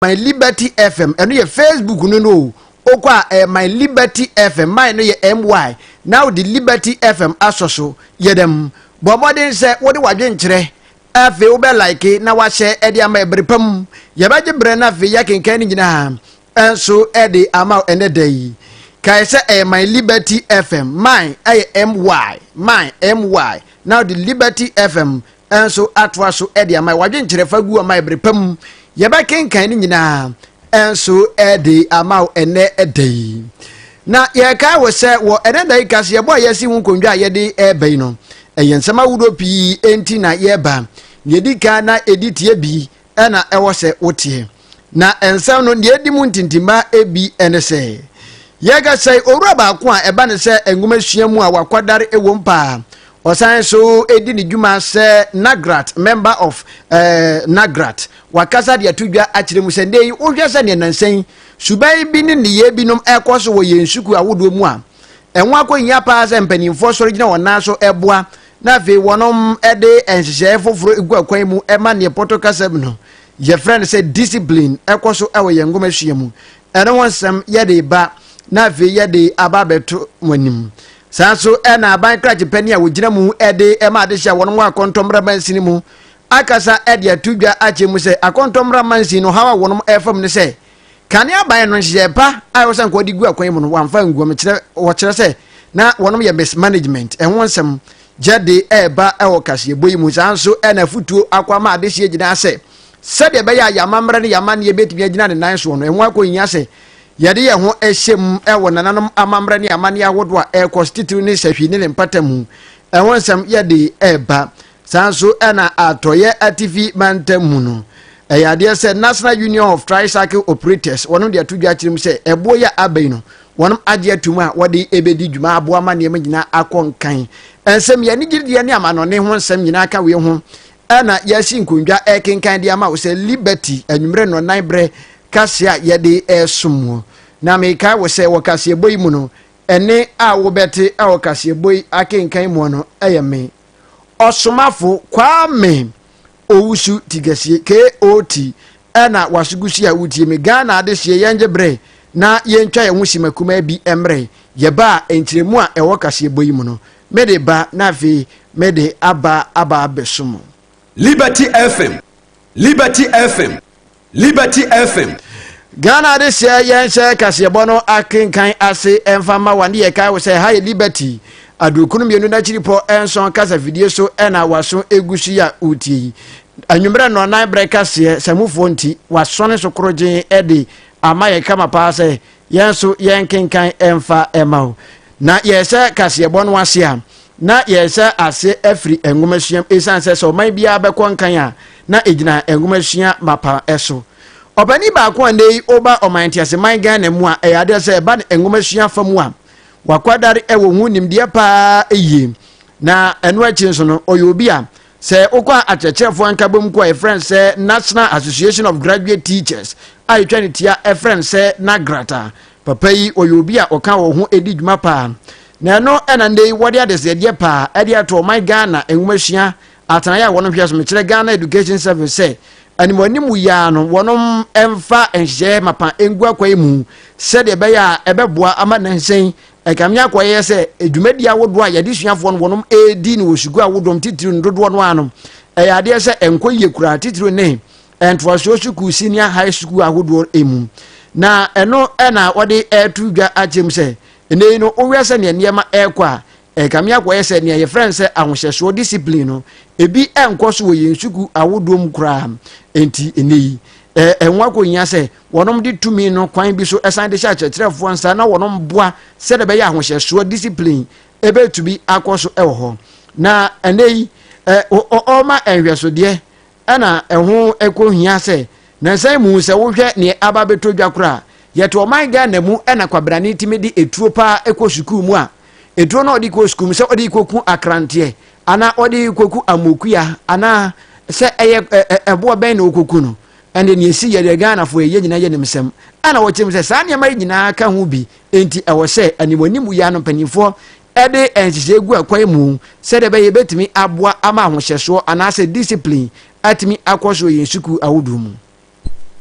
my liberty fm ɛno yɛ facebook no no o wokɔ a ɛyɛ my liberty fm my no yɛ my na wode liberty fm asɔ so yɛ dɛm bɔ mmɔden sɛ wode wadwenkyerɛ afei wobɛ like na wahyɛ ɛde ama ɛbere pa mu yɛbɛgye berɛ no afei yɛkenkan no nyinaa ɛnso ɛde ama ɛnɛ da yi kae sɛ ɛyɛ my liberty fm my ɛyɛ my my na wode liberty fm nso atoa so de ama wadwenkyerɛ fa gu ama bere pa mu yɛbɛkenkan ne nyinaa nso de ama wo ɛnɛ da yi na yɛrekae wɔ sɛ wɔ ɛnɛ da yi ka sɛ yɛbɔ a yɛasi ho nkondwa a yɛde ɛreba yi no ɛyɛ nsɛm ahodoɔ pii enti na yɛreba na yɛdi kan na ɛdi tie bi ɛna ɛwɔ sɛ woteɛ. Na nsɛm no deɛ ɛdi mu ntintimma ebi ne sɛ, yɛka sɛ owura baako a ɛba ne sɛ nwomasua mu a wakwadare wom paa. Ɔsan so di ne dwuma sɛ Nagrat, member of eh, Nagrat. Wakasa de ato dwa akyerɛ mu sɛ nnɛ yi wohwɛ sɛ neɛ nansa yi suban bi ne nneyɛɛ binom ɛkɔ so wɔ yɛn sukuu ahodoɔ mu a, ɛho akɔhia paa sɛ mpanimfoɔ sɔre gyina wɔn nan so ɛboa na afei wɔde nhyehyɛe foforo gu akwan mu ma nea Pɔtɔ kasa mu no yɛfrɛ no sɛ discipline ɛkɔ so wɔ yɛn nhomasua mu. Ɛno ho nsɛm yɛde reba na afei yɛde aba abɛto mo anim. Saa nso na aban krakye panyin a wɔgyina mu de ma adehye a wɔnom wɔ akɔntɔmmara mansin mu akasa de ato dwa akyerɛ mu sɛ akɔntɔmmara mansin no haw a wɔnom ɛfam ne sɛ Kane aban no nhyehyɛe pa a ɛwɔ sɛ nka wɔde gu akwan mu no, wɔamfa angu. Wɔkyerɛ, wɔkyerɛ sɛ na wɔnom yɛ mismanagement. Ɛho nsɛm gyɛde reba wɔ kaseɛbɔ yi mu. Saa nso na afotuo akɔ ama adehyeɛ gyinaa sɛ sɛdeɛ ɛbɛyɛ a yɛamammerɛ ne yɛamanneɛ bɛtumi agyina ne nan soɔ no, ɛho akɔhia sɛ yɛde yɛn ho hyɛ mu wɔ nananom amammerɛ ne amanneɛ ahodoɔ a ɛrekɔ so titiriw ne sahwi ne ne mpata mu. Ɛho nsɛm yɛde reba Saa nso na Atɔeɛ Atifi mantam mu no, ɛyɛ adeɛ sɛ National Union of Tricycle Operators, wɔnom de ato dwa akyerɛ mu sɛ ɛboɔ yi a aba yi no, wɔnom agye atom a wɔde ɛbɛdi dwuma aboa ma nneɛma nyinaa akɔ nkan. Nsɛm yi, anigyedeɛ ne amanɔne ho nsɛm nyinaa ka wei ho na yɛasi nkondwa ɛrekenkan de ama wo sɛ Liberty anwummerɛ nnɔnnan berɛ kaseɛ a yɛde ɛresom muo. Na mekae wo sɛ wɔ kaseɛbɔ yi mu no, ɛnne a wobɛte wɔ kaseɛbɔ yi akenkan muo no yɛ me ɔsomafo Kwame Owusu Tigasie KOT ɛna wasogusi a wotie me Ghana adehyeɛ yɛngye bere na yɛntwa yɛn ho sima kumaa bi mmerɛ yɛba a nkyerɛmu a ɛwɔ kaseɛbɔ yi mu no mede ba na afei mede aba aba abɛso mu. Liberty FM Liberty FM Liberty FM. Ghana adesua yɛnhyɛ kaseɛbɔ no akenkan ase mfa mma wa ne yɛkae wo sɛ ha yɛ Liberty adurukunu mmienu n'akyiripɔ nson kasafidie so na waso egu so yi a wotie yi anwummerɛ nnɔnnan berɛ kaseɛ samufoɔ nti waso ne so korogyen de ama yɛ kama paa sɛ yɛn nso yɛnkenkan mfa mma wo na yɛhyɛ kaseɛbɔ no ase a na yɛhyɛ ase afiri nwomasua ɛsiane sɛ sɛ ɔman biara bɛkɔ nkan a na ɛgyina nwomasua mapa so ɔpani baako a nnɛ yi ɔba ɔman nteaseman ghana mu a ɛyɛ adeɛ sɛ ɛba no nwomasua fa mu a wakwadare ɛwɔ ho nimdeɛ paa yie na ɛno akyi nso no ɔyɛ obi a Sɛ wokɔ akyerɛkyerɛfoɔ nkabom ko a yɛfrɛ no sɛ National Association of Graduate Teachers a yɛtwa no tia frɛ no sɛ NAGRAT a, papa yi ɔyɛ obi a ɔka wɔn ho di dwuma paa. Na ɛno na nnɛ yi wɔde adesrɛdeɛ paa de ato ɔman Ghana nwomasua atenaeɛ a wɔn hwɛso mekyerɛ Ghana Education Service sɛ animuanimu yi ara no wɔn mfa nhyehyɛeɛ mapa ngu akwan mu sɛdeɛ ɛbɛyɛ a ɛbɛboa ama nansan Ɛkame akɔyɛ sɛ dwumadi ahodoɔ a yɛde suafoɔ no wɔnom ɛredi no wɔ sukuu ahodoɔ mu titiriw no dodoɔ no ara no ɛyɛ adeɛ sɛ ɛnkɔ yie koraa titiriw ne ntoasoɔ sukuu senior high sukuu ahodoɔ mu na ɛno na wɔde ɛreto dwa akyerɛ mu sɛ ɛnɛ yi no wohwɛ sɛ nea nneɛma ɛrekɔ a ɛkame akɔyɛ sɛ nea yɛfrɛ no sɛ ahohyɛsoɔ discipline no ebi ɛnkɔ so wɔ yɛn sukuu ahodoɔ mu koraa nti ɛnɛ yi ɛho akɔhia sɛ Wɔnom de tumi no kwan bi so san de hyɛ akyerɛkyerɛfoɔ nsa na wɔnom boa sɛdeɛ ɛbɛyɛ ahohyɛsoɔ, discipline, ɛbɛtumi akɔ so wɔ hɔ. Na ɛnɛ yi, ɔma nhwɛsodeɛ ɛna ɛho ɛkɔ hia sɛ nansa yi mu sɛ wohwɛ neɛ aba bɛtɔ dwa koraa. Yɛte ɔman Ghana mu ɛna kwabrane tumi de ɛtuo paa ɛkɔ sukuu mu a, ɛtuo no ɔde kɔ sukuu mu sɛ ɔde kɔku akranteɛ anaa ɔde kɔku amokua anaa sɛ ɛyɛ ɛboɔ bɛn na ɔkɔku no. Ɛnde nea esi yɛ deɛ Ghanafoɔ yɛyɛ nyinaa yɛ animsɛm. Ɛna wɔkyerɛ mu sɛ saa nneɛma yi nyinaa ka ho bi nti ɛwɔ sɛ animuanimu yɛ ano mpanimfoɔ de nhyehyɛe gu akwan mu sɛdeɛ ɛbɛyɛ yɛbɛtumi aboa ama ahohyɛsoɔ anaasɛ discipline atumi akɔ so wɔ yɛn sukuu ahodoɔ mu.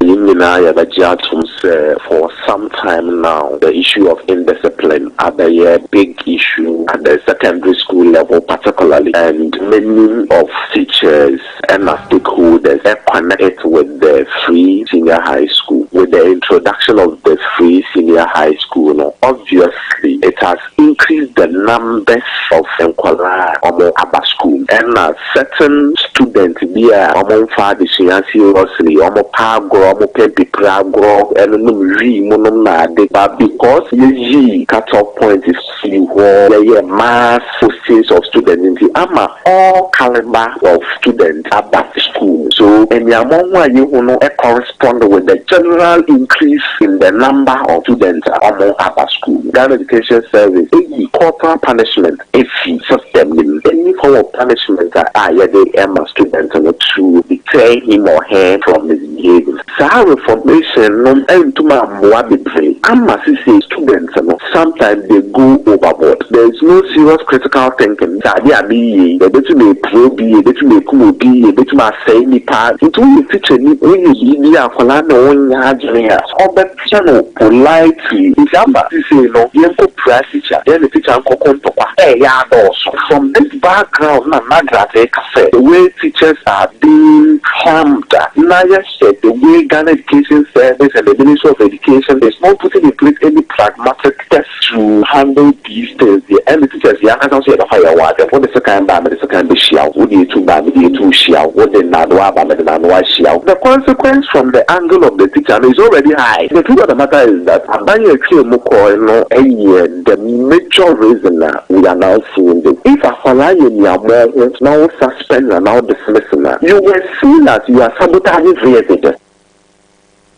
Yɛn nyinaa yɛbɛgye atom sɛ for some time now the issue of indiscipline abɛyɛ big issue at the secondary school level particularly and many of teachers ɛna stakeholders connect it with the free senior high school with the introduction of the free senior high school no obviously it has increased the numbers of nkwadaa a wɔn aba school mu ɛna certain student bi a wɔn nfa adesua seriously wɔn pɛ agorɔ wɔn pɛ mpipire agorɔ ɛne nom wii mu nom na ade but because yɛ yii cut off point sii hɔ bɛyɛ mass postings of students nti ama all calibre of students aba sukuu mu. So aniammɔ ho a yɛhu no correspond with the general increase in the number of students a wɔaba sukuu mu? Ghana Education Service ayi corporal punishment afi system no mu. Any form of punishment a yɛde ma student no to deter him or her from his. Yie. Saa reformation no antum amboa bebree ama sesei students no sometimes they go overboard there is no serious critical thinking sɛ adeɛ a meyie yi ɛbɛtum apira obi ɛbɛtum akum obi ɛbɛtum asɛe nipa nti woyɛ teacher ni woyɛ biribi a akwadaa no ɔnnya adwene a ɔbɛ Hyɛ no politely. December sesei no yɛnkɔ pira sikya yɛne tikya nkɔko ntɔkwa ɛɛyɛ adɔɔso. From this background na Nagrat reka sɛ the way teachers are being harmed a na yɛhyɛ the way Ghana Education Service and the Ministry of Education is not putting in place any pragmatic steps. to handle these things deɛ ɛne teachers yɛn ankasa nso yɛbɛfa yɛn ho asɛm wode sekan ba a mede sekan bɛhyia wo wode etu ba a mede etu hyia wo wode nnaadoa aba a mede nnaadoa hyia wo the consequence from the angle of the teacher no is already high the truth of the matter is that aban a ɛtwaa mu kɔɔe no yɛ the major reason a we are now seeing this if akwadaa yɛ nea mɔɔ ho na wo suspend no anaa wo dismiss no a you were seen as you are sabotaging his education.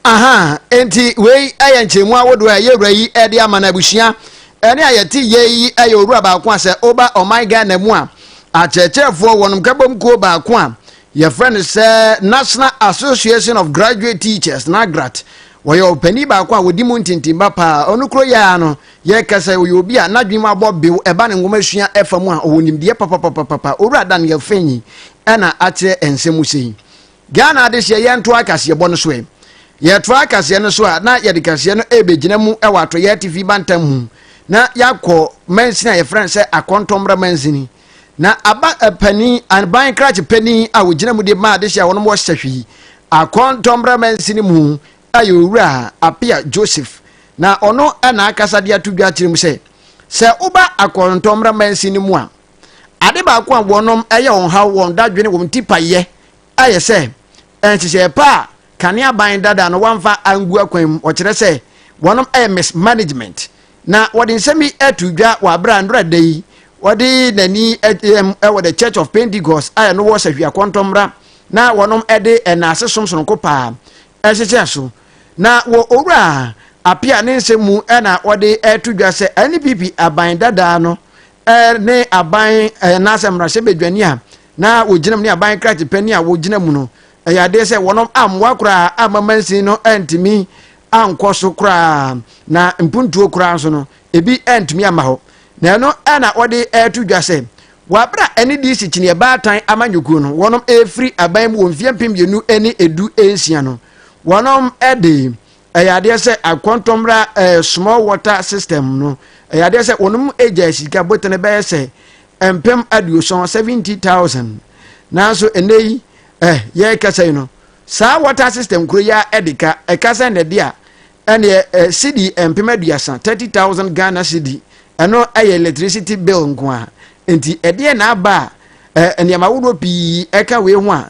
Aha, enti wei yɛ nkyɛnmu ahodoɔ a ɛyɛ wura yi de ama no abusua. Ɛne a yɛte yɛ yi yɛ owura baako a sɛ woba ɔman Ghana mu a, akyerɛkyerɛfoɔ wɔnom kabom kuo baako a yɛfrɛ no sɛ National Association of Graduate Teachers, NAGRAT. Wɔyɛ ɔpanin baako a wɔdi mu ntintimba paa. Ɔno kuro yɛ ara no, yɛka sɛ ɔyɛ obi a n'adwene mu abɔ bew ɛba ne nwoma sua ɛfa mu a ɔwɔ nimdeɛ papapapapa. Owura Daniel Fenyi ɛna akyerɛ nsɛm mu sei. Ghana adehyeɛ yɛntoa kaseɛbɔ no so ɛ. Yɛtoa kaseɛ no so a na yɛde kaseɛ no ɛrebɛgyina mu wɔ Atɔyɛ Atifi Bantam mu na yɛakɔ mansini a yɛfrɛ no sɛ Akɔntɔmmrɛ mansini. Na aba panin, aban krakye panin a ɔgyina mu de ma adehyeɛ a wɔnom wɔ Sahwi, Akɔntɔmmrɛ mansini mu a yɛ Owura Apea Joseph. Na ɔno na akasa de ato dwa akyerɛ mu sɛ, sɛ woba Akɔntɔmmrɛ mansini mu a, Ade baako a wɔnom ɛyɛ wɔn haw wɔn dadwene wɔn ti payɛ ɛyɛ sɛ nhyehyɛɛ pa a kane aban dada no wɔamfa angu akwan mu ɔkyerɛ sɛ wɔnom ɛyɛ mismanagement na wɔde nsɛm yi ato dwa wɔ abere a nnora da yi wɔde n'ani ɛm ɛwɔ the church of pentecost a ɛno wɔ sahwia kɔntɔmmra na wɔnom ɛde ɛnaase som sononko paa ɛhyehyɛ so na wɔ owura apia ne nsɛm mu ɛna wɔde ɛto dwa sɛ npp aban dada no ne aban anaasɛ mmarahyɛ badwani a na wɔgyina mu ne aban krakye panyin a wɔgyina mu no ɛyɛ adeɛ sɛ wɔn ammoa koraa amma mansin no antumi ankɔ so koraa na mpuntuo koraa nso no ebi antumi amma hɔ na ɛno na wɔde ɛreto dwa sɛ wɔabra ɛne de si kyiniɛ baatan amanyɔkuo no wɔn ɛrefiri aban mu wɔ mfeɛ mpem mmienu ne edu nsia no wɔn ɛde ɛyɛ adeɛ sɛ akɔntɔmmra ɛɛ small water system no ɛyɛ adeɛ sɛ wɔn mu agya sika botene bɛyɛ sɛ mpem aduoson seventy thousand nanso ɛnɛ yi ɛɛ yɛrekasa yi no saa water system kuro yi a ɛde ka ɛka sɛ na ɛde a ɛneɛ ɛɛ cedi mpem aduasa thirty thousand ghana cedi ɛno ɛyɛ electricity bill nko a nti ɛdeɛ na aba a ɛɛ nneɛma ahodoɔ pii ɛka wei ho a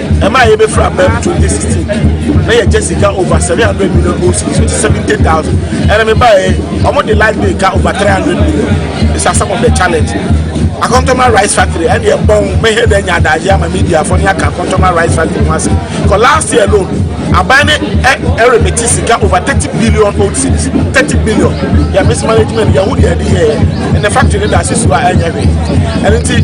ɛma a yɛbɛfiri aba mu 2016 na yɛgya sika over 700 million oc so ti 70000 ɛna mebaɛ ɔmo de light bill ka over 300 million it's a some of the challenge akɔntɔma rice factory ɛne ɛbɔn mɛhɛ dɛ nya adagye ama media fo ne aka akɔntɔma rice factory ho ase kɔ last year alone aban ne ɛremete sika over 30 billion oc 30 billion yɛ mismanagement yɛho deɛ ɛde yɛɛ ɛnɛ factory ne da ase so a ɛnyɛ hwee ɛno nti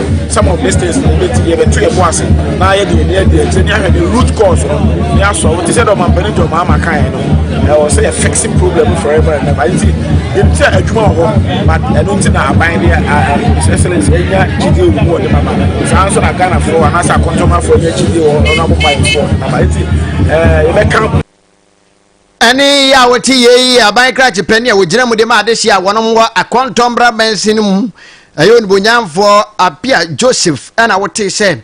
some of these things no bɛti yɛbɛto yɛ bo ase na yɛde yɛni adi akyire ne ahwɛ the root cause no ne asɔ wo te sɛ dɛ ɔmampani de ɔmaama kaeɛ no ɛwɔ sɛ yɛ fixe problem forever and ever nti yɛnim sɛ adwuma wɔ hɔ but ɛno nti na aban deɛ excellence ɛnya gyidie wɔ mu wɔ ne mama saa nso na ghanafoɔ anaasɛ akɔntɔmafoɔ nya gyidie wɔ ɔno abɔ mayɛfoɔ mama nti yɛbɛka ne yɛ a wɔte yɛ yi yɛ aban krakye pɛ ne a wɔgyina mu de ma adehye a wɔnom wɔ akɔntɔ mmra mansin no mu ɛyɛ onibonyamfoɔ Appiah Joseph ɛna wotee sɛ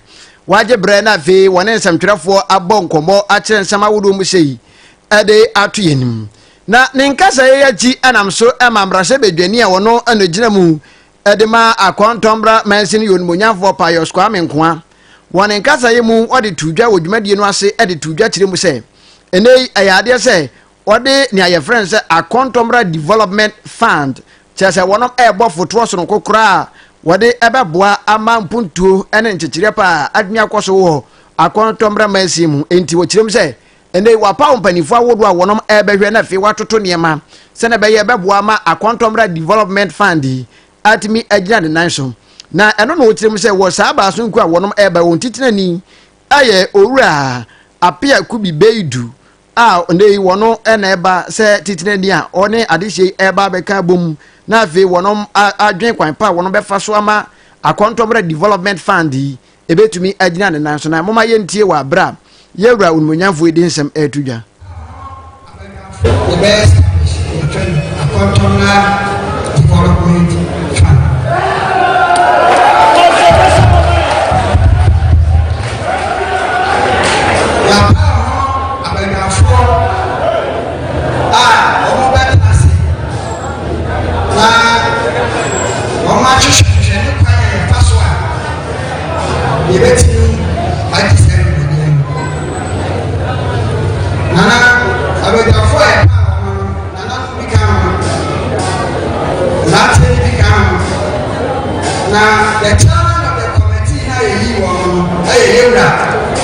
wagye berɛ na afei wɔne nsɛmtwerɛfoɔ abɔ nkɔmmɔ akyerɛ nsɛm ahodoɔ mu sɛ yi ɛde ato yɛ anim na ne nkasa yɛ akyi ɛnam so ɛma mmarahyɛ badwani a wɔno ɛna gyina mu de ma Akɔntɔnbra Mansin Yonimonyamfoɔ Pius Kwame Nkoa. Wɔ ne nkasaeɛ mu ɔde too dwa wɔ dwumadie no ase de too dwa kyerɛ mu sɛ, ɛnnɛ yi ɛyɛ adeɛ sɛ wɔde nea yɛfrɛ no sɛ Akɔntɔnbra Development Fund, kyerɛ sɛ wɔnom ɛrebɔ fotoɔ sononko koraa a wɔde ɛbɛboa ama mpuntuo ne nkyekyereɛ pa a adwene akɔ so wɔ Akɔntɔnbra Mansin mu. Enti wɔkyerɛ mu sɛ, Ɛnnɛ yi, wɔapaw mpanyimfo ahodoɔ a wɔnom rebɛhwɛ na afei wɔatoto nneɛma sɛnea ɛbɛyɛ ɛbɛboa ama Akontɔmmra Development Fund yi atumi agyina ne nan so. Na ɛno na wɔkyerɛ mu sɛ wɔ saa baason kuo a wɔnom reba yi wɔn titenani yɛ Owura Appiah Kubi Beidu a ɛnnɛ yi wɔn na ɛba sɛ titenani a ɔne adehyeɛ yi reba abɛka abom na afei wɔnom adwene kwan pa a wɔnom bɛfa so ama Akontɔmmra Development Fund yi ɛbɛtumi agyina ne nan so na moma yɛntie wɔ aberɛ a yɛwura onimonyamfoɔ yi de nsɛm ɛreto dwa na wɔahwehwɛhwehwɛ ne kwan a yɛfa so a yɛbɛtumi agye saa dwumadie no. Nana abadwafoɔ a yɛpaa wɔn no, nananom bi ka ho, mmeranteɛ no bi ka ho, na the chairman of the committee no a yɛyii wɔn no yɛ yɛwura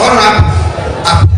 ɔno apɛ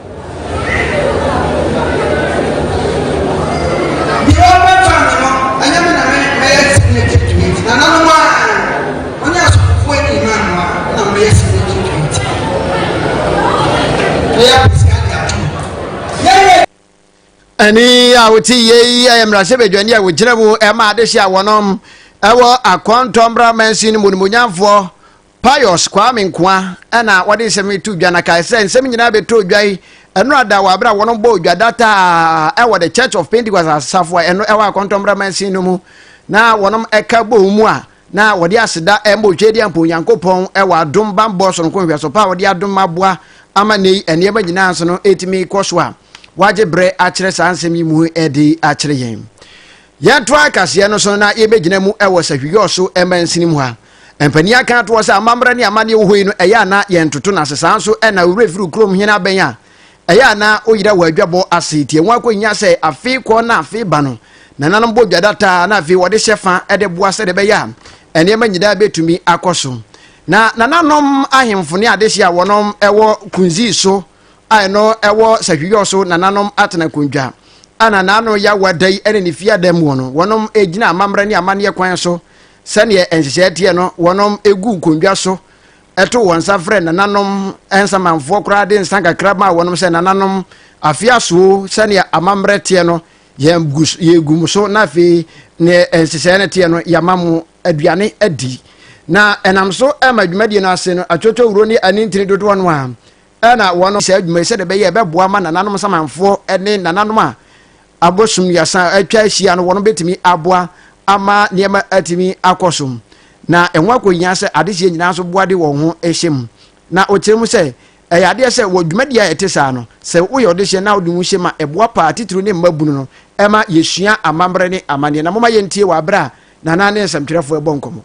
ɛne a wote yei ɛyɛ mmarahyɛbadwani a wɔgyina mu ɛma adehye a wɔnom ɛwɔ akɔntɔmmra mansin no mu nomonyamfoɔ Pius Kwame Nkoah na ɔde nsɛm yi too dwa na kae sɛ, Nsɛm nyinaa bɛtɔɔ dwa yi, nnora da wɔ bere a wɔbɔɔ dwa da taa wɔ The Church of Pentecost asafo a ɛno ɛwɔ Akɔntɔmmra Mansin no mu na wɔka bɔɔ mu a na wɔde aseda ma Otwedeampo Nyankopɔn wɔ adom bammɔ sononko nhwɛso pa a ɔde adom aboa ama nnɛ yi nneɛma nyinaa nso no ɛtumi kɔ so a wagye berɛ akyerɛ saa nsɛm yi mu de akyerɛ yɛn. Yɛtoa kaseɛ no so na yɛbɛgyina mu wɔ Sahwiyɔɔ so mansini mu ha. Mpanin aka atoɔ sɛ amammerɛ ne amanneɛ wɔ hɔ yi no ɛyɛ a na yɛntoto no ase saa nso na wo werɛ firi wo kurom hene abɛn a ɛyɛ a na wo yera wɔ adwabɔ ase tie ho akɔnya sɛ afe kɔ na afe ba no nananom bɔ dwa dataa na afei wɔde hyɛ fa de boa sɛdeɛ ɛbɛyɛ a nneɛma nyinaa bɛtumi akɔ so na nananom ahemfo ne adehye a wɔnom ɛwɔ kunzii so a ɛno ɛwɔ sahwiyɔ so nananom atena nkondwa a nananom yɛ awada yi ne ne fie adam wɔ no wɔnom gyina amammerɛ ne amanneɛ kwan so sɛdeɛ nhyehyɛɛ teɛ no wɔnom gu nkondwa so ɛto wɔn nsa frɛ nananom nsamanfoɔ koraa de nsa kakra ma wɔnom sɛ nananom afe asoo sɛdeɛ amammerɛ teɛ no yɛgu mu so na afei ne nhyehyɛɛ no teɛ no yɛama mo aduane adi na ɛnam so ɛma dwumadie no ase no atwotwɔ wuro ne anintini dodoɔ no a na wɔnom saa adwuma yi sɛdeɛ ɛbɛyɛ ɛbɛboa ma nananom samanfoɔ ne nananom a abosom mmiɛnsa atwa ahyia no wɔnom bɛtumi aboa ama nneɛma atumi akɔ so na ɛho akɔhia sɛ adehyeɛ nyinaa nso boa de wɔn ho hyɛ mu na ɔkyerɛ mu sɛ ɛyɛ adeɛ sɛ wɔ dwumadie a ɛte saa no sɛ woyɛ ɔdehyeɛ na wode ho hyɛ mu a ɛboa paa titiriw ne mma bunu no ɛma yɛsua amammerɛ ne amanneɛ na moma yɛntie wɔ aberɛ a nana ne nsɛmtwerɛfoɔ ɛbɔ nkɔmmɔ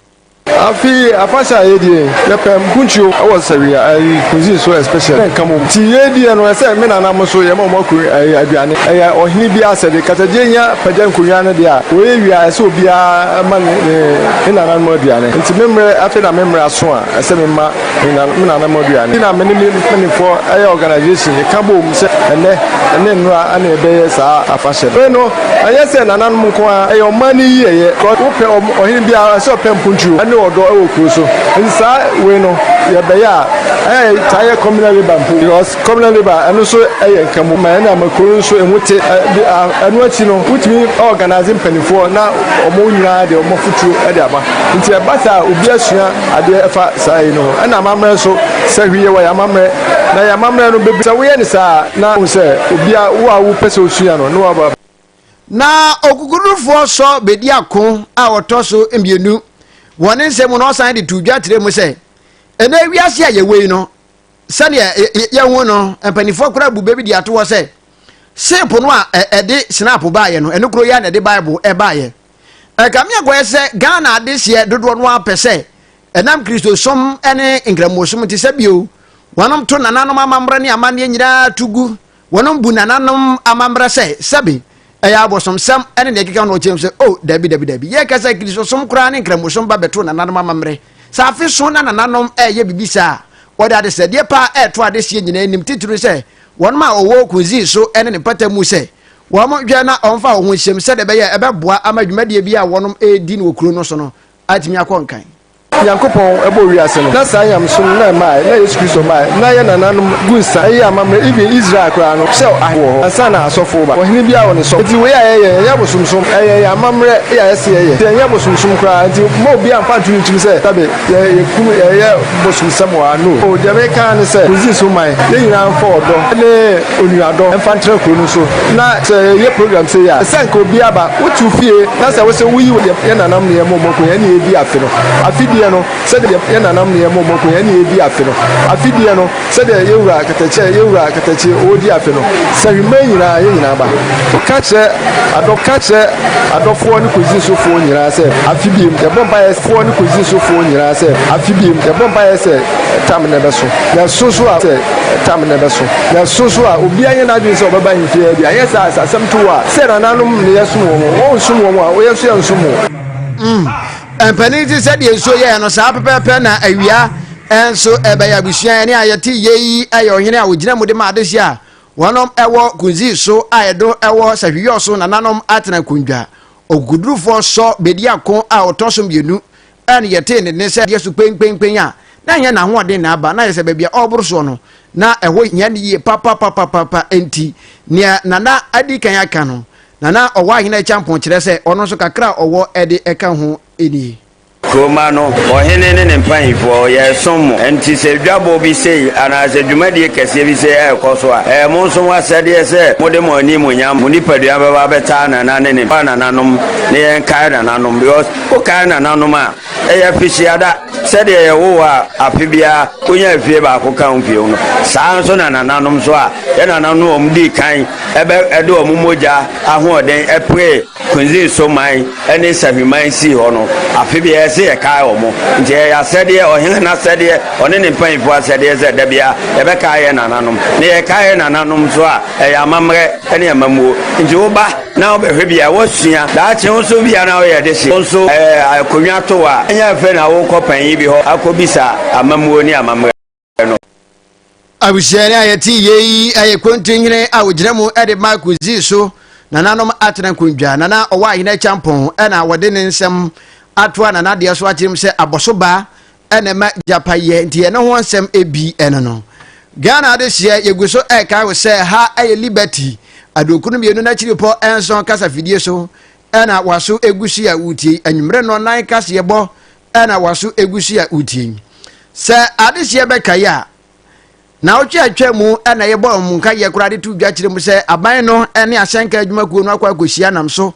Afe yi afahyɛ a yɛdie yi yɛpɛ mpuntuo wɔ sɛwi ayi cuisine so especially ne nka mom nti yɛdie no ɛsɛ me nana mo so yɛma ɔmo aku ayi aduane ɛyɛ ɔhene biaa asɛde kasagye nya pagya nkonwa no deɛ a wɔyɛ wie a ɛsɛ obiaa ma ne ne nananom aduane nti me mmerɛ afei na me mmerɛ aso a ɛsɛ me ma me nana mu aduane. Ɛna me ne me mpanimfoɔ ɛyɛ organisation yɛka bom sɛ ɛnɛ ɛne nnora ɛna ɛbɛyɛ saa afahyɛ no. no ɛnyɛ sɛ nananom nko ara ɛyɛ ɔman no yie ɛyɛ. Wopɛ ɔhene biara ɛsɛ ɔpɛ mponturo ɛne ɔdɔ ɛwɔ kuro so. Nti saa wei no yɛbɛyɛ a ɛyɛ taa yɛ communal labour mpo because Kɔmina River, ɛno nso yɛ nkamu ma yɛn ama kuro no nso emu te. Ɛno akyi no, wotumi organise mpanimfoɔ na wɔn nyinaa de wɔn afutuo de aba. Nti ɛba saa a, obi asua adeɛ ɛfa saa yei no ho. Ɛna amammerɛ nso, sɛ hwii yɛ wɔ yɛn amammerɛ, na yɛn amammerɛ no bɛbi. Sɛ woyɛ no saa a, na wohu sɛ obia, wo a wopɛ sɛ wosua no, na waba. Na Okukudurufoɔ sɔ bɛdi ako a wɔtɔ so mmienu. Wɔ ne nsɛm mu no, ɔsan de too dwa kyerɛɛ mu sɛ, Ɛnnɛ wiase a yɛwɔ yi no, sɛdeɛ yɛhu no mpanimfoɔ koraa bu bɛ bi de ato hɔ sɛ seepo no a ɛde snap baeɛ no ɛno kuro yɛ na ɛde bible ɛbaeɛ ɛkame akɔyɛ sɛ ghana adehyeɛ dodoɔ no ara pɛ sɛ ɛnam kristosom ne nkramosom nti sɛ bio wɔnom to nananom amammerɛ ne amanneɛ nyinaa to gu Wɔnom bu nananom amammerɛ sɛ, sɛbe, ɛyɛ abosomsɛm ne deɛ ɛkeka ho na wɔteam sɛ, O, dabi, dabi, dabi. Yɛreka sɛ Kristosom koraa ne Nkramosom ba bɛtoo nananom amammerɛ. Sɛ afe so na nananom reyɛ biribi saa a, wɔde adesrɛdeɛ pa a ɛto adehyeɛ nyinaa anim, titiriw sɛ wɔnom a wɔwɔ kunzii so ne ne mpata mu sɛ wɔnhwɛ na wɔmfa wɔn ho nhyem sɛdeɛ ɛbɛyɛ a ɛbɛboa ama dwumadie biara a wɔnom redi no wɔ kuro no so no atumi akɔ nkan. Nyankopɔn bɔɔ wiase no, na saa nyamesom no na ɛmae na Yesu Kristo bae, na yɛn nananom gu nsa, ɛyɛɛ amammerɛ, even Israel koraa no, sɛ ahene wɔ hɔ ansa na asɔfo reba, ɔhene biara wɔ ne sɔfo. Enti wei a yɛyɛ, ɛnyɛ abosomsom, ɛyɛ yɛn amammerɛ a yɛse yɛyɛ, enti ɛnyɛ abosomsom koraa, enti mma obiara mfa nto ne tirim sɛ dabi, yɛkum, yɛyɛ bosomsɛm wɔ ha, no, oh, deɛ mereka ara ne sɛ, Misri so man, yɛn nyinaa mfa ɔdɔ ne. onuadɔ mfa ntra kuro no so na sɛ yɛyɛ program sei a sɛ nka obi aba wotew fie na sɛ wosɛ woyi wɔ yɛn nananom ne yɛn mɔ mɔ konya ɛne yɛdi afe no afe deɛ no sɛdeɛ yɛn nananom ne yɛn mɔ mɔ konya ɛne yɛdi afe no afe deɛ no sɛdeɛ yɛwura katakyɛ yɛwura katakyɛ ɔdi afe no sɛ hwema nyinaa yɛn nyinaa ba ka kyerɛ adɔ ka kyerɛ adɔfoɔ ne kɔzi so foɔ nyinaa sɛ afe biem yɛbɔ mpa yɛ foɔ ne kɔzi so foɔ nyinaa sɛ afe biem yɛbɔ mpa yɛ sɛ tam ne bɛso yɛso so a sɛ Tam na ɛbɛso yɛn so nso a, obiara nyɛ n'adwene sɛ ɔbɛba yɛn fie ha bi, anyɛ saa a, sɛ asɛm to wo a, sɛ yɛn nananom nneyɛɛ som wɔn, wɔansom wɔn a, yɛn nso yɛrensom wɔn. Mm, mpanin nti sɛdeɛ nsuo yɛɛ no saa pɛpɛɛpɛ na awia nso ɛbɛyɛ abusua ɛne a yɛte yie yi yɛ ɔhene a ɔgyina mu de ma adehye a wɔnom ɛwɔ kunzi so a ɛdo ɛwɔ sahwiyɔ so nananom atena kundwa ɔkukudurufoɔ sɔ bɛdi ako a ɔtɔ so mmienu Bere a na yɛtee ne nne sɛ ɛyɛ so penpenpen a, na ɛnyɛ n'ahoɔden na aba, na ayɛ sɛ baabi a ɔreboro soɔ no, na ɛhɔ hia no yie papapapaapa. Enti, nea na na adi kan aka no, na na ɔwɔ ahene kyampɔn, kyerɛ sɛ, ɔno nso kakra a ɔwɔ de ka ho nie. Kurowmma no, ɔhene ne ne mpanyimfoɔ, wɔyɛɛ som mo. Enti sɛ dwabɔ bi sei anaasɛ dwumadie kɛseɛ bi sei rekɔ so a, ɛyɛ mo nso mo asɛdeɛ sɛ mode mo animuonyam, mo nipadua bɛba abɛtaa nananom, ne ne mmoa nananom, ne yɛnkae nananom, because. Wokae nananom a, ɛyɛ afihyiada sɛdeɛ yɛwo wo a afe biara wonya efie baako ka wo fie no. Saa nso na nananom nso a yɛn nananom no wɔn dii kan ɛbɛ ɛde wɔn mogya ahoɔden ɛpue Kunzin so man ɛne Sahwi man sii hɔ no. Afe biara ɛsɛ yɛkae wɔn nti ɛyɛ asɛdeɛ ɔhene n'asɛdeɛ ɔne ne mpanyinfoɔ asɛdeɛ sɛ da biara yɛbɛkae yɛn nananom na yɛkae yɛn nananom nso a ɛyɛ amammerɛ ɛne amammuo nti woba na wo bɛhwɛ bia wo sua daakye wo nso bia na wo yɛ dehye wo nso akonwa to wa ɛnyɛ afei na wo kɔ panyin bi hɔ akɔ bisa amamuo ne amammerɛ no. Abusua ni a yɛte yie yi yɛ kontinhene a wɔgyina mu de ma kɔdzi so nananom atena nkondwa. Nana ɔwɔ ahene akyampɔn na wɔde ne nsɛm atoa nanadeɛ so akyerɛ mu sɛ abɔso ba ɛna ɛma gyapa yɛ nti yɛne ho nsɛm ɛbi ɛno no Ghana adehyeɛ yɛgu so ɛkae wo sɛ ha ɛyɛ Liberty aduokunu mmienu n'akyiripɔ nson kasafidie so ɛna waso ɛgu so a wotie anwummerɛ no nan kaseɛ bɔ ɛna waso ɛgu so a wotie sɛ adehyeɛ bɛkae a Naawɔtwe a atwaa mu na yɛbɔɔ wɔn nkaeɛ koraa de too dwa kyerɛɛ mu sɛ aban no ne asɛnka adwuma kuo no akɔ akɔsi anam so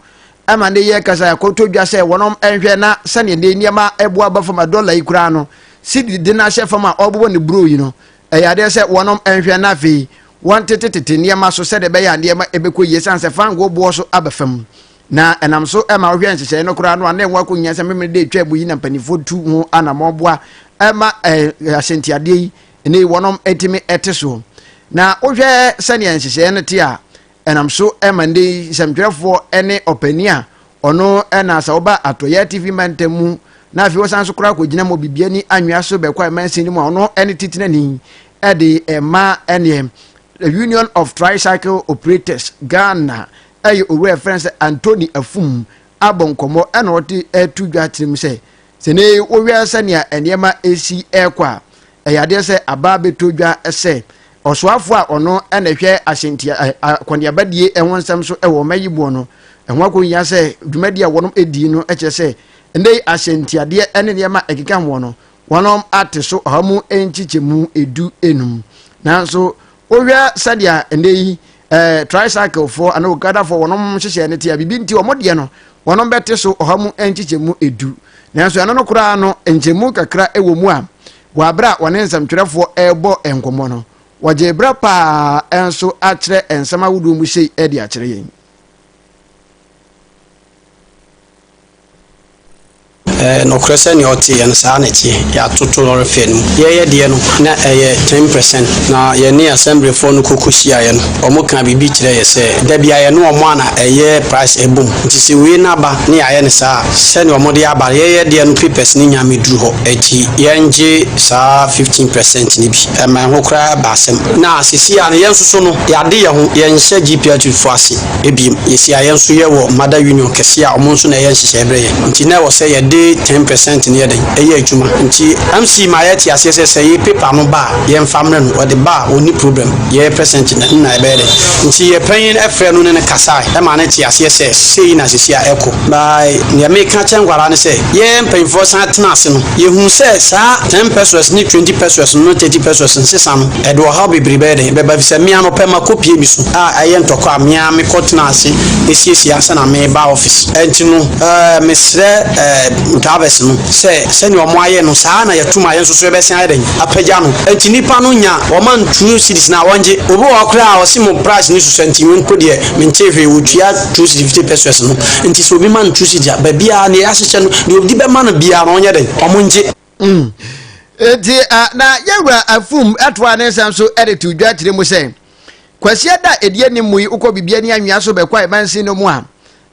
ma nnɛ yi ankasa yɛakɔtɔ dwa sɛ wɔnom nhwɛ na sɛdeɛ nnɛ yi nneɛma ɛbo aba fam a dɔla yi koraa no sidiri de no ahyɛ fam a ɔrebobɔ ne buro yi no ɛyɛ adeɛ sɛ wɔnom nhwɛ na afei wɔntetetete nneɛma so sɛdeɛ ɛbɛyɛ a nneɛma ɛbɛkɔ yie sane sɛ fangoo boɔ so aba fam na ɛnam so ma wohwɛ nhyehyɛe no koraa no a na ɛho akɔhia sɛ memene de atwa mu yi na mpanimfoɔ tu ho anammɔn boa ma ahyɛntiadeɛ yi ne wɔnom tumi te soɔ. Na wohwɛ sɛdeɛ nhyehyɛeɛ no te a, ɛnam so ma ndɛ yi nsɛmtwerɛfoɔ ne ɔpanin a ɔno na sɛ woba atɔyɛ atifi mantam mu na afei wɔsan so koraa kɔgyina mu bibiani anwea so bɛkɔ a ɛmansin no mu a ɔno ne titenani de ɛma ɛneɛ Union of Tricycle Operators Ghana ɛyɛ owura ɛfrɛ sɛ Anthony Afum abɔ nkɔmmɔ na wɔde reto dwa akyerɛ mu sɛ sɛ ne wohwɛ sɛnea nneɛma resi rekɔ a, ɛyɛ adeɛ sɛ aba bɛtɔ dwa sɛ ɔsoafoɔ a ɔno na ɛhwɛ ahyɛntia akɔneabadie ho nsɛm so wɔ ɔma yi boɔ no ɛho akɔhia sɛ dwumadi a wɔnom ɛdii no kyerɛ sɛ ɛnɛ ahyɛntiadeɛ ne nneɛma ɛkeka hoɔ no wɔnom ate so ɔha mu nkyekyɛmu edu enum nanso wohwɛ sɛdeɛ ɛnɛ yi eh, tricycle foɔ anaa okada foɔ wɔn nhyehyɛ no te a biribi nti wɔn deɛ no wɔn bɛte so ɔha mu nkyekyɛmu edu nanso ɛno no koraa no nkyɛmu kakra wɔ mu a wɔ abere a wɔne nsɛmtwerɛfoɔ ɛrebɔ nkɔmmɔ no wɔgye berɛ paa nso akyerɛ nsɛm ahodoɔ mu sei de akyerɛ yɛn Ɛyɛ nokorɛ sɛ nea ɔteeɛ no, saa ara na ɛteɛ. Yɛatoto lɔre fɛɛ no mu. Yɛreyɛ deɛ no, na ɛyɛ ten percent, na yɛne asɛmblefoɔ no kɔkɔhyiaeɛ no, wɔkaa biribi kyerɛɛ yɛ sɛ, da biara yɛne wɔn a na ɛyɛ price ɛbɔ mu. Nti sɛ wei no aba ne yɛayɛ no saa a, sɛdeɛ wɔde aba no, yɛyɛ deɛ no papers no nnya mmɛduru hɔ. Ɛnti yɛngye saa fifteen percent no bi. Ɛmaa ɛho koraa baa asɛm. Na seesei ara no, yɛn nso so no, yɛade yɛn ho, yɛnhyɛ GPRTfoɔ ase. Ebien, yɛsi a yɛn nso yɛwɔ mother union kɛseɛ a wɔn nso na ɛyɛ nhyehyɛeɛ berɛ yɛn. Nti na ɛwɔ sɛ yɛde ten per cent no yɛ dɛn? Ɛyɛ adwuma. Nti MC maa yɛte aseɛ sɛ sɛ yɛ paper no ba a, yɛmfa mmrɛ no. Ɔde ba a, ɔnni problem. Yɛ percent no na ɛbɛyɛ dɛn? Nti yɛ panyin frɛɛ no ne no kasaeɛ maa no tee aseɛ sɛ sei na seesei a ɛrekɔ. Na deɛ mereka akyerɛ nkoa ara ne sɛ, yɛ mpanimfoɔ san tenaa ase no, yɛhunuu sɛ saa ten pesewas ne twenty pesewas no ne thirty pesewas nsesa no, Ɛde ɔhaw bebree bɛyɛ dɛn bɛba? Efisɛ me ara mepɛ makopue me su a ɛyɛ ntɔkwa a me ara mekɔtena ase siesie ansa na mereba office. Enti no, eh, mesrɛ eh, drivers no sɛ sɛnea wɔayɛ no, saa ara na yɛato mu a yɛn nso so yɛbɛsan ayɛ dɛn apagya no. Enti nnipa no nya wɔn and two cedis no a, wɔngye. Obi wɔ hɔ koraa a ɔse mo price no susua nti me mpo deɛ mentee hwee, wɔtua two cedi fifty pesos no. Enti sɛ obi ma no two cedi a, baabiara nea yɛahyehyɛ no, nea obi bɛma no biara no wɔnyɛ dɛn, wɔngye. Mm. Nti uh, na yɛwura afum atoa ne nsɛm so de to dwa kyerɛ mu sɛ kwasia da ɛdi anim mu yi wokɔ biribi ani anwea so bɛkɔ a ɛmansin no mu a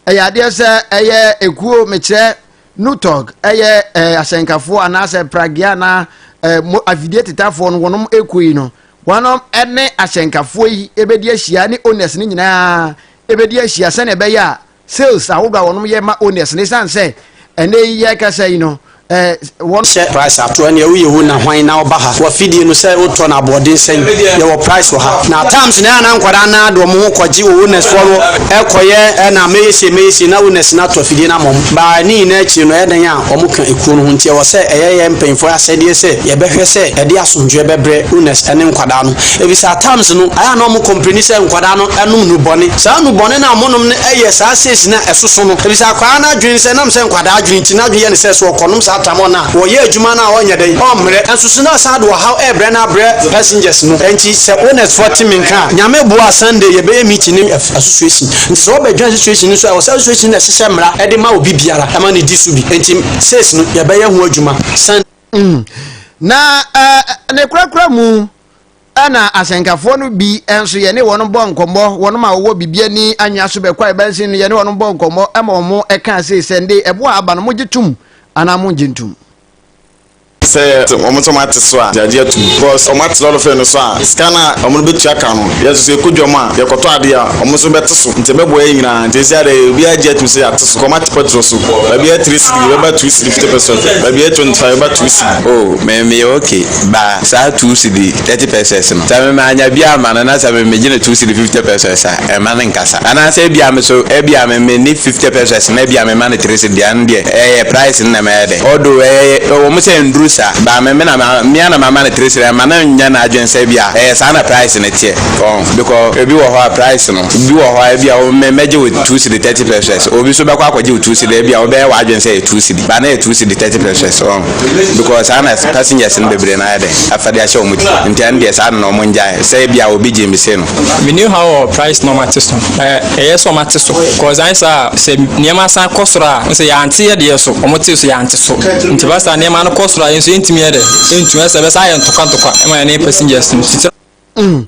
ɛyɛ adeɛ sɛ ɛyɛ ekuo mekyerɛ nutɔg ɛyɛ ɛɛ asɛnkafoɔ anaasɛ pragea anaa ɛɛ mo afidie tetafoɔ no wɔnom ekuo yi no wɔnom ɛne asɛnkafoɔ yi ɛbɛdi ahyia ne owners no nyinaa ɛbɛdi ahyia sɛnea ɛbɛyɛ a sales ahodoɔ a wɔnom yɛ ma owners no ɛsiane sɛ ɛnɛ yi yɛkasa yi no eh, wɔn. Hyɛ price ato ɛne ɛwo yɛ wo na hwan na ɔba ha wɔ fidie no sɛ wotɔ na aboɔden sɛn yɛwɔ price wɔ ha na times na ɛna nkwadaa na de wɔn ho kɔgye wɔ owners foɔ no ɛkɔyɛ ɛna mɛyɛ sie mɛyɛ sie na owners na atɔ fidie na mɔm baa ne nyinaa akyire no ɛdɛn a wɔn ka ekuo no ho nti ɛwɔ sɛ ɛyɛ yɛ mpanyinfoɔ asɛdeɛ sɛ yɛbɛhwɛ sɛ ɛde asomdwoɛ bɛbrɛ owners ɛne nkwadaa no Ebisa a times no ɛyɛ a na ɔmo kɔmpleni sɛ nkwadaa no ɛnom nubɔne. Saa nubɔne no a ɔmo nom no ɛyɛ saa stage no a ɛsoso no. Ebisa akwaa no adwene sɛ nam sɛ nkwadaa adwene nti n'adwene yɛ no sɛ sɛ ɔkɔnom saa tramɔl no a wɔyɛ adwuma no a ɔnyɛ dɛn ɔmmrɛ. Ɛnsoso no asan de ɔhaw ɛɛbrɛ no abrɛ passengers no. Ɛnti sɛ owners foɔ te me nka a Nyame boa a Sunday yɛbɛyɛ meeting ne association. Nti sɛ ɔbɛ join association no nso a ɛwɔ sɛ association no na ɛhyehyɛ mmra ɛde ma obi biara ɛma no di so bi. Ɛnti sales no yɛbɛyɛ ho adwuma Sunday. Mm. Na uh, ne korakora mu ɛna asɛnkafoɔ no bi nso yɛne wɔn bɔ nkɔmmɔ wɔn ma wɔwɔ biribi ani anwea so bɛkɔ a ɛbɛnsen no yɛne wɔn bɔ nkɔmmɔ ɛma wɔn ɛka ase sɛ nde ɛboɔ a aba no mogye tom anaa mongye ntom sɛ wɔn nso wɔn ate so a gyagye atum because wɔn ate lɔre fɛ no so a sika no a wɔn bɛtua ka no Yɛ so sɛ yɛkɔ dwam a, yɛkɔtɔ adeɛ a, wɔn nso bɛte so. Nti ɛbɛboa yɛn nyinaa. Nti seesei ara yi, obiara gye atum sɛ yɛate so. Kɔma te pɛtrol so. Baabi a ɛyɛ three cedi, yɛbɛba two cedi fifty pɛsɛ. Baabi a ɛyɛ twenty five, yɛbɛba two cedi. Oh, me, meyɛ ok. Ba, saa two cedi thirty pɛsɛs no, sɛ me mannya bi amma no, na sɛ me megye no two cedi fifty pɛsɛs a, mma no nkasa. Anaasɛ ebia me nso, ebia me, menni fifty pɛsɛs, na ebia mema no three cedi deɛ a, ɛno deɛ, ɛyɛ price no na ɛma ɛyɛ dɛ. Although ɛyɛ wɔn sɛ nnuru sa but me me na ma me ara na mama no three cedis ma no nyɛ n'adwene sɛ bi a ɛyɛ saa na price no teɛ wɔn because ebi wɔ hɔ a price no bi wɔ hɔ a ebi a wɔn mɛ mɛgye wo two cedi thirty pesos obi nso bɛkɔ akɔgye wo two cedi ebi a wɔbɛyɛ wɔn adwene sɛ ɛyɛ two cedi but na yɛ two cedi thirty pesos wɔn because saa na passengers no bebree na ayɛ dɛ afa de ahyɛ wɔn ti nti ɛno deɛ saa na wɔn ngyae sɛ ebi a obi gye mi se no. Me new how or price normal te so. Ɛyɛ sɛ wɔate so cause anyɛ saa a sɛ nneɛma san kɔ soro a sɛ yɛante yɛ deɛ so wɔtee so yɛante so nti ɛba saa nneɛma no kɔ soro a yɛn nso yɛntumi yɛ dɛ yɛntumi ɛsɛ ɛbɛsan ayɛ ntɔkwa ntɔkwa ɛma yɛn ne passengers no titira Mm.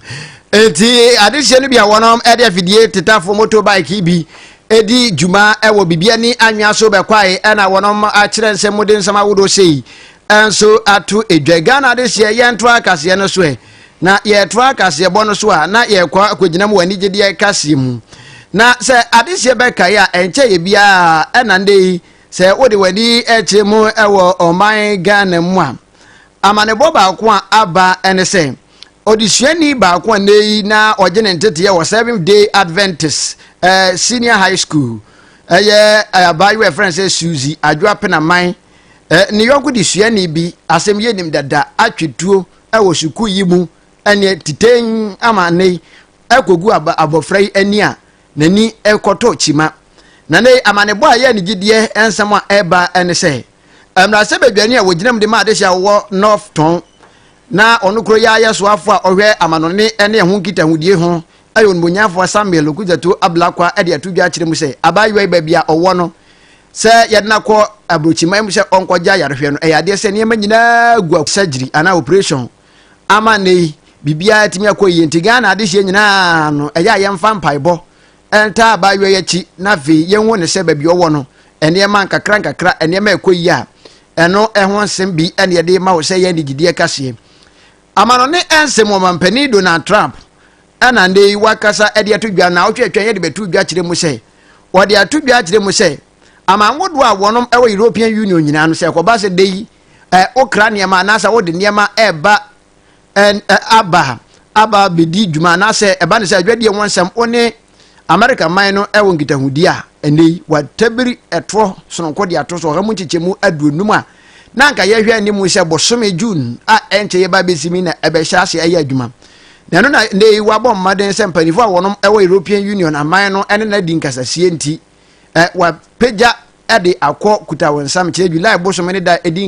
Nti adehyeɛ no bi a wɔnom ɛde afidie tetafo motorbike bi ɛdi dwuma ɛwɔ bibia ni anwea so bɛkwae ɛna wɔnom akyerɛ nsɛm mu de nsɛm ahodoɔ sei ɛnso ato edwa Ghana adehyeɛ yɛnto akaseɛ no so ɛ Na yɛtoa kaseɛbɔ no so a, na yɛkɔ akɔgyina mu wɔ anigyedeɛ kaseɛ mu. Na sɛ adehyeɛ bɛkae a, ɛnkyɛeɛ biara ɛna ndɛ yi, sɛ wode w'ani kyerɛ mu wɔ ɔman Ghana mu a, amanebɔ baako a aba ne sɛ, odesuani baako a nnɛ yi na ɔgye ne nteteɛ wɔ Seventh Day Adventist eh, Senior High School, ɛyɛ eh, abaayewa ɛfrɛ no sɛ Suzy Adwoa Penaman, eh, ne yɔnko desuani bi, asɛm yɛnim dada, atwetuo, wɔ sukuu yi mu ɛneɛ titɛn ama ne yi ɛkɔgu abɔfra yi ani a n'ani ɛkɔtɔ kyima na ne amanebɔ a ɛyɛ ne gyidie nsɛm a ɛba ɛne sɛ mmarahyɛ badwani a wɔgyinam de ma adehye a wɔwɔ north tɔn na ɔno kuro yi ayɛ soafo a ɔhwɛ amanɔne ɛne ɛho nkitahodie ho ɛyɛ onimonyafo samuel okudzatu ablakwa ɛde ato dwa akyerɛ mu sɛ abaayewa yi baabi a ɔwɔ no Sɛ yɛde no akɔ aburokyiman mu sɛ ɔnkɔgye ayarehwɛ no, ɛyɛ adeɛ sɛ nneɛma nyinaa gu a surgery anaa operation ama nnɛ yi biribiara atumi akɔ yie. Nti Ghana adehyeɛ nyinaa no, ɛyɛ a yɛmfa mpaebɔ ntaa abaayewa yi akyi na afei yɛnhu no sɛ baabi ɔwɔ no, nneɛma nkakra nkakra, nneɛma a ɛkɔ yie a, ɛno ho nsɛm bi na yɛde rema wo sɛ yɛn de gyidie kaseɛ. Amanɔne nsɛm Ɔmampanin Donald Trump Ɛna nnɛ yi wakasa de ato dwa na awotwe atwa yɛde bɛto dwa kyerɛ mu sɛ wɔde ato dwa akyerɛ mu sɛ aman ahodoɔ a wɔnom ɛwɔ European Union nyinaa no sɛ ɛkɔba sɛ da yi ɛ wokra nneɛma anaasɛ wode nneɛma ɛba aba aba bɛdi dwuma anaasɛ ɛba ne sɛ adwadie ho nsɛm wo ne Amerika man no ɛwɔ nkitahodie a ɛnɛ yi watabiri ɛtoɔ sononko de ato so ɔha mu nkyekyɛmu aduonum a na anka yɛhwɛ anim sɛ bosome June a ɛnkyɛ yɛba abɛsi mi na ɛbɛhyɛ ase ayɛ adwuma. Na ɛno na nnɛ yi wɔabɔ mmaden sɛ mpanimfoɔ a wɔnom ɛwɔ European Union aman no ɛne no adi nkasasie nti, ɛ, wɔapagya ɛde akɔ Kutawonsam kyerɛ July bosome ne da ɛdi